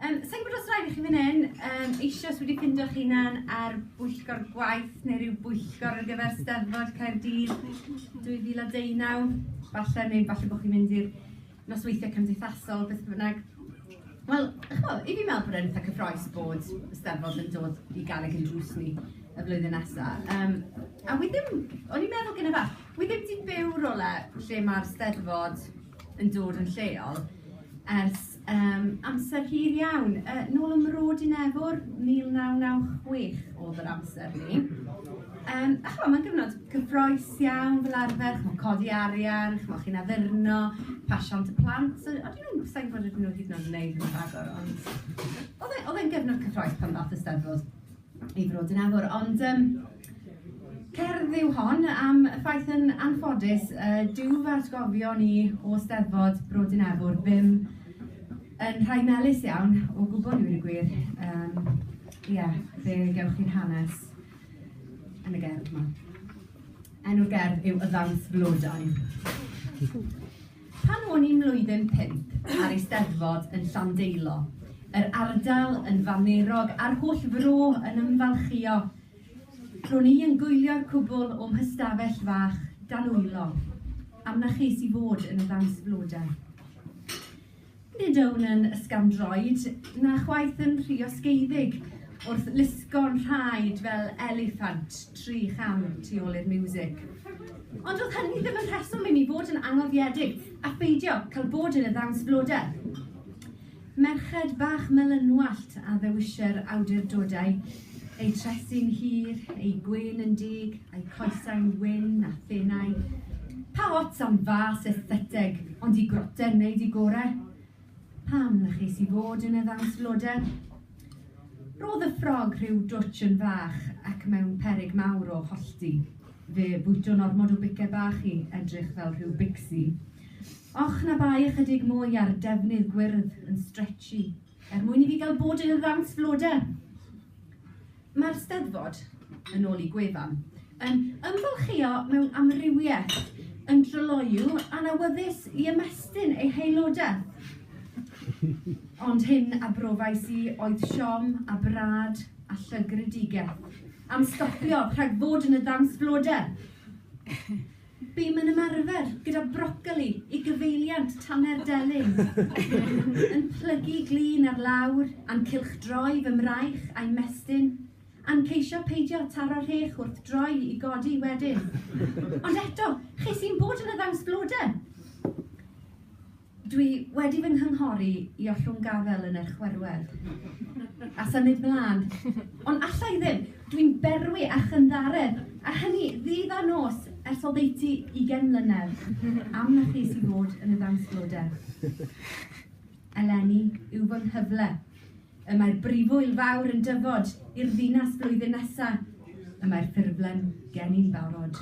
Um, Sa'n gwybod os rhaid i chi fan hyn, um, eisiau wedi ffindio chi hunan ar bwyllgor gwaith neu rhyw bwyllgor ar gyfer Steddfod Caerdydd 2019. Falle neu falle bod chi'n mynd i'r nosweithiau cymdeithasol, beth bynnag. Wel, chbo, i fi meddwl bod e'n eitha cyffroes bod y Steddfod yn dod i gael ei gynrwys ni y flwyddyn nesaf. Um, a wedyn, o'n i'n meddwl gyda fath, Wi ddim 'di byw rywle lle mae'r Steddfod yn dod yn lleol ers yym amser hir iawn. Yy nôl ym Mro Dinefwr 1996 oedd yr amser 'ny. Yym a chimod, mae'n gyfnod cyffrous iawn fel arfer, chimod codi arian, chimod chi'n addurno, pasio am dy plant, so o'n i'n sa i'n gwybod os o'n nhw hyd yn oed yn wneud hynna ragor, ond oedd e oedd e'n gyfnod cyffrous pan ddaeth y Steddfod. ei fod yn awr. Ond um, cerdd yw hon am y ffaith yn anffodus, uh, dyw fy atgofio ni o steddfod Brod yn Efwr ddim yn rhai melus iawn o gwybod ni'n y gwir. Um, yeah, fe gewch chi'n hanes yn y gerdd yma. Enw'r gerdd yw Y Ddawns Flodau. Pan o'n i'n mlwyddyn pump a'r Eisteddfod yn Llandeilo, yr ardal yn famerog a'r holl fro yn ymfalchïo, ro'n i yn gwylio'r cwbl o'm hystafell fach dan wylo, am na ches i fod yn y ddawns flodau. Nid yw'n un ysgafn-droed, na chwaith yn rhy osgeiddig wrth lusgo'n rhaed fel eliffant tri cham tu ôl i'r miwsig. Ond doedd hynny ddim yn rheswm i mi fod yn angofiedig a pheidio cael bod yn y ddawns blodau. Merched bach melynwallt a ddewisir awdurdodau Ei tresu'n hir, ei gwên yn dug, a'i coesau'n wyn a thenau. Pa ots am fas estheteg, ond i groten wneud i gore? Pam na ches i fod yn y ddawns floder? Roedd y ffrog rhyw dwtsh yn fach ac mewn peryg mawr o hollti. Fe bwyto'n ormod o bice bach i edrych fel rhyw bicsi. Och na bai ychydig mwy ar defnydd gwyrdd yn stretchy. Er mwyn i fi gael bod yn y ddawns flodau. Mae'r Steddfod, yn ôl i gwefan, yn ymfalchïo mewn amrywiaeth, yn dryloyw a'n awyddus i ymestyn ei haelodau. Ond hyn a brofais i oedd siom a brad a llygredigaeth am stopio rhag bod yn y ddawns flodau. Bum yn ymarfer gyda brocoli i gyfeiliant Taner Delyn. Yn plygu glun ar lawr, a'n cylchdroi fy mraich a'i mestyn, a'n ceisio peidio taro rhech wrth droi i godi wedyn. Ond eto, ches i'n bod yn y ddawns blode! Dwi wedi fy nghynghori i ollwng gafael yn eich chwerwedd, a symud 'mlân. Ond alla i ddim! Dwi'n berwi a chynddaredd, a hynny ddydd a nos ers oddeutu ugain mlynedd, am na chi sy'n bod yn y ddawnsglodedd. Eleni yw fy nghyfle. Y mae'r Brifwyl Fawr yn dyfod i'r ddinas flwyddyn nesa. Y mae'r ffurflen geni'n barod.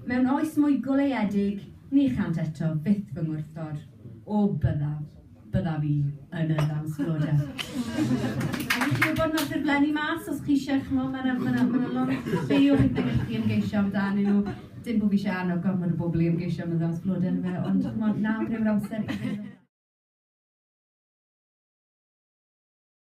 Mewn oes mwy goleuedig, ni chânt eto fyth fy ngwrthod. O, byddaf, byddaf i yn y ddawns floda. Ac i chi wybod, mae'r ffurflenni mas, os chi eisiau, chimod, mae 'na, mae 'na, mae 'na lot ffeil pethau gallu chi ymgeisio amdanyn nhw. Dim bo' fi isie annog gormod o bobl i ymgeisio am y ddaws glo dyle fe ond ch'mod nawr yw'r amser i